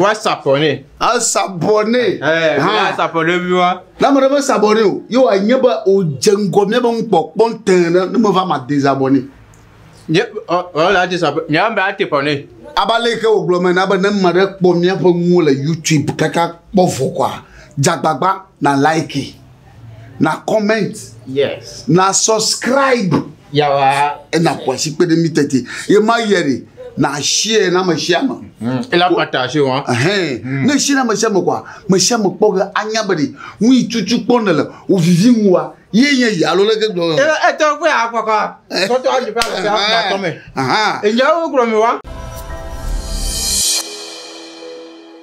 Woasabɔ nɛ. Asabɔ nɛ. Asabɔ nɛ mi wa. Na ame ɖe me sabɔ nɛ o. Ye wòanye be wòdze ŋgɔ mía be ŋkpɔkpɔ tẽ ɖe ne meva ma de zabɔ nɛ. Nye ɔla ati sabɔ. Nye ame ati bɔ nɛ. Aba le ke wògblɔ me na be ne ame ɖe kpɔ míaƒe nuwo le YouTube kaka kpɔ vɔ kɔa, dzagbagba na like. na comment yes na subscribe yawa ena kwasi kpe ɖe mi tete ye ma yɛ de na share na me share me mm. ela pata se wa hɛn mm. ne share na me share me kwa me share me kpɔ ge anya be de nu yi tutu kpɔ ne le o vivi ŋu wa ye nye yi alo leke gblɔ e e tɔ kpe akɔkɔ sɔtɔ ayi fa le se akpa tɔ me enyɛ wo gblɔ mi wa.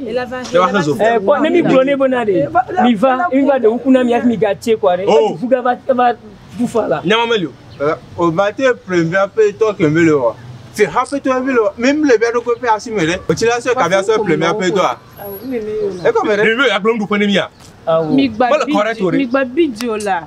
Eh, kpɔ ne mi gblɔ nɛ bena ɖe mi va mi va ɖe ŋku na mi hafi mi gatse kɔ aɖe Oh. fu gava va fu fa la Nyama meli o. Eh, o va te ple via pe tɔ ke mele o. Se hafi tɔ mele o. Mi mle via ɖo ko pe asi me ɖe. O ti la se ka via se ple via pe tɔ a. E ko me ɖe. Ɖe mi be ya gblɔ nuɖuƒe ne mia? Awo. Migba Mele correct o ɖe. bidzi, migba bidzi o la.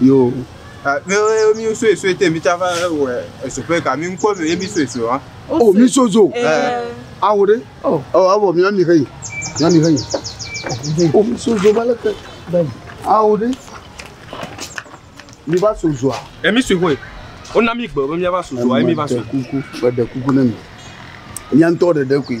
Yo, eh, mi eh, mi suesue te mi tsava wɔ esoƒe ka mi ŋkɔ mi mi suesue wa. O mi sozo. Awo ɖe. O awɔ mi ami hei. Mi ami hei. O mi sozo ba leke. Awo ɖe. Mi va sozoa. E mi sue koe. O na mi gbe be mi va sozoa e mi va soe. Kuku, gbe de kuku ne mi. Nya ntɔ ɖeɖe koe.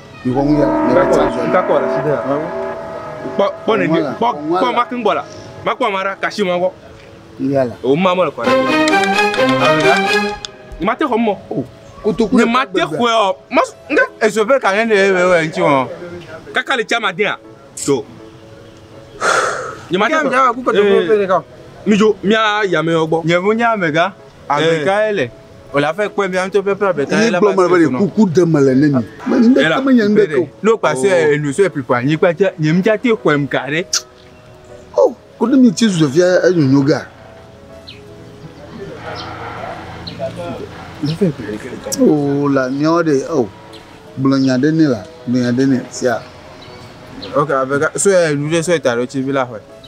Kpɔ kpɔ ne kpɔ kpɔ makun gbɔ la makpɔ ma ɖa kasi ma gbɔ o ma mɔ le kɔ ɖe ma te xɔ mɔ kotoku ne ma te xɔ ɔ ma nga ezo pe ka ne ne ewe ewe ŋti mɔ kaka le chama dia so ne ma te xɔ mi jo mi a yame gbɔ nye bo nya mega amega ele Wòle aƒe kpɔe bia ŋutɔ ƒe ƒe abeta ye la ba sue tunu. Kuku de me le ne mi. Ŋdeke me nye ŋdeke o. N'o kpase oh. enu sue pipa nyi kpa tse nye mtsa te xɔem ka ɖe. O oh, ko ne mi tsi zue fia enyonyo ga. O oh, la miawo de o. Oh. Gblɔ nya ɖe ne la, gblɔ nya ɖe ne sia. Ok, avega sue enu ɖe sue ta ɖe tsi vi la xɔe.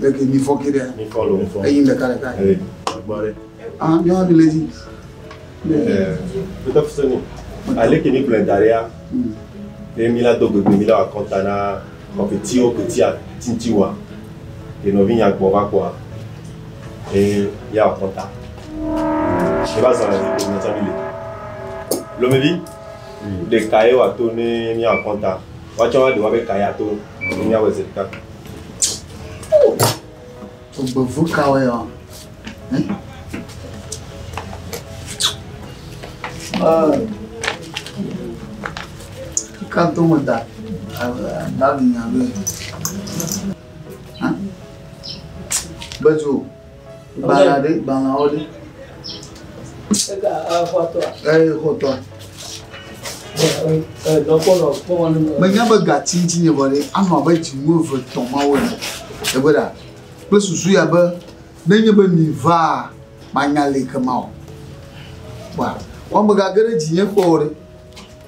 Deke mi fɔ ke ɖea? Mi fɔ lo. Eyi ɖeka ɖeka. Ee, gbɔ ɖe. Ah, mi wa mi le dzi. Ɛɛ, wotɔ fi sɔni. Ale ke mi gblɔe da ɖea, ye mi la do gbegbe mi la wa kɔnta na kɔfetiwo kpetia tinti wa. Ye nɔvi nya gbɔ va kpɔa. Ye ya wa kɔnta. Ye va zɔna dzi ke mi tsa mi le. Lomevi, ɖeka ye wa to ne mi wa kɔnta. Woatsɔ aɖe woabe ka ya to si míawɔe zi ɖeka. Ogbevu kawoe ɔ? Ka do me da daɖi nya be. Bedzo. Gbalẽa ɖe? Gbalẽawo ɖe? Ega exɔtɔa? Ee, xɔtɔa. Dɔkpɔlɔ kpɔwɔ ne. Menya be gati ŋuti nye vɔ ɖe anɔ abe dzinu eve tɔ mawo ene. Egbe ɖa kple susu ya be nenye be mi vaa manya le kema o. Wa wɔmega ge ɖe dzinye kpɔwɔ ɖe.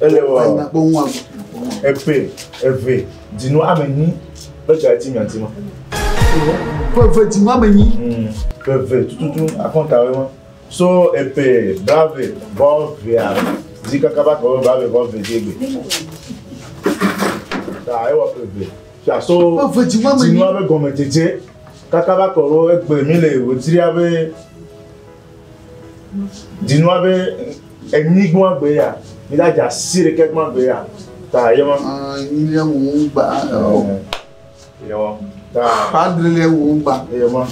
Ele wɔ epe eve dinu ame nyi be ga ti nya ti ma. Pe eve dinu ame nyi. Pe eve tututu akɔnta we ma. So epe brave vɔ vea zi kaka ba kɔ brave vɔ ve di egbe. Ta ewɔ pe eve. Fia so dinu ame gɔme dzedze kaka ba kɔ egbe mi le wotri abe Dinua be enyi gbɔn agbe ya, mi la dza si ɖeke gbɔn agbe ya. Ta ye ma. Enyi le wo gba. Ye ma. Ta. Padre le wo gba. Ye ma.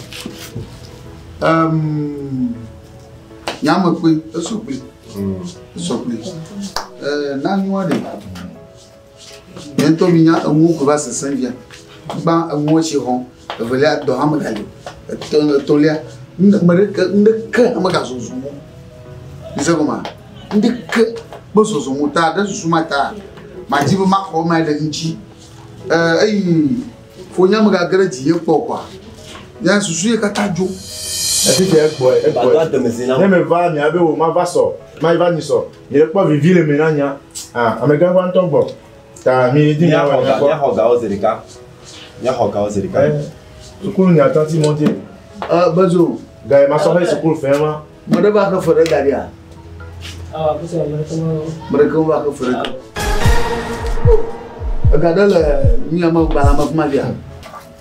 Um, nyame kpe, esɔ kpe. Esɔ kpe. Eh, na nyua ɖe. Miaŋtɔ minya enuwo ko va sesẽ fia. Gbã enuwo tsi xɔ. Evelia, dɔ hã meganyo. Etɔ etɔ̃lia, nu ɖe me ɖeke nu ɖeke hã megazɔzɔ mɔ o. Mise gɔmea? Nu ɖeke mezɔzɔ mɔ o ta ɖe susu ma taa madi be maxɔ ema ɖe ŋutsi. E eyi fonya megage ɖe dzinye kpɔ o koa nye susu ye katã dzo. Egbɔe egbɔe. Ne meva nya be o mava sɔ, mayi va nyi sɔ. Míekpɔ vivi le me na nya. Ah, amegã va ŋutɔ gbɔ. Ta mi di nya wɔ nya kpɔ. Míaxɔ gawo zi ɖeka. Míaxɔ gawo zi ɖeka. Sukulu nya tati mɔ dzi. Ɛ bezo. Gaye ma sɔ fɛ sukulu fɛ ma. Mɔɖe va ke fɛ ɖe gaɖi a. Ah, bese mɔɖe ke ma. Mɔɖe ke va ke fɛ ɖe. Ega ɖe le mi ame gbalame kuma dzi a.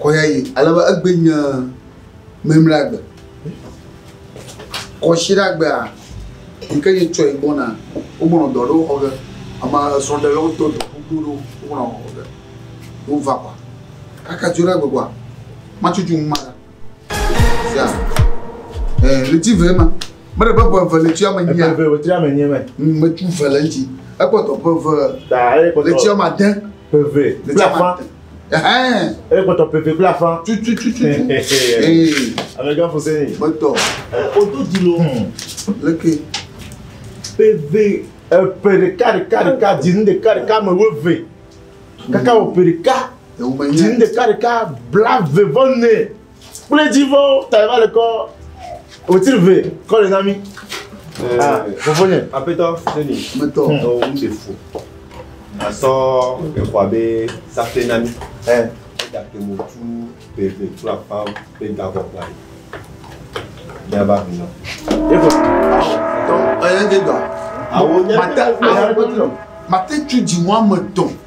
kɔyayi alebe egbe nye memleagbe kɔsiɖagbea yi ke yetsɔe gbɔna wogbɔnɔ dɔ aɖewo xɔ ge ame srɔ̃ɖelawo do dɔ gbogbo ɖewo wogbɔnɔ xɔ ge wova kɔ kaka tso ɖe egbe kɔa matsutsu ŋu ma sia ɛɛ ɣleti ve ma mele be ƒe eve ɣleti ame nyia ƒe eve ame nyia mɛ metsu ve le ŋuti ekpɔtɔ ƒe eve ɣleti ame ade ƒe ve ɣleti ame ade E gbɔtɔ pepe kple afã. Tutututu. Amega fose ni. Gbɔtɔ. O do di lo. Leke. Peve. Epe ɖeka ɖeka ɖeka di nu ɖeka ɖeka me wo ve. Kaka o pe ɖeka. Di nu ɖeka ɖeka bla ve vɔ ne. kple dzi vɔ ta va le kɔ wòti ve kɔ le na mi fofo nye. apetɔ seni apetɔ ɔ ŋu se fo asɔ exɔa be safe na mi ɛ egate mo tu beve tu akpa be gavɔ kpa yi ne ava mi nɔ. efo tɔ ɛyɛ de dɔ awo nye mate awo mate tu dzi wɔme tɔn.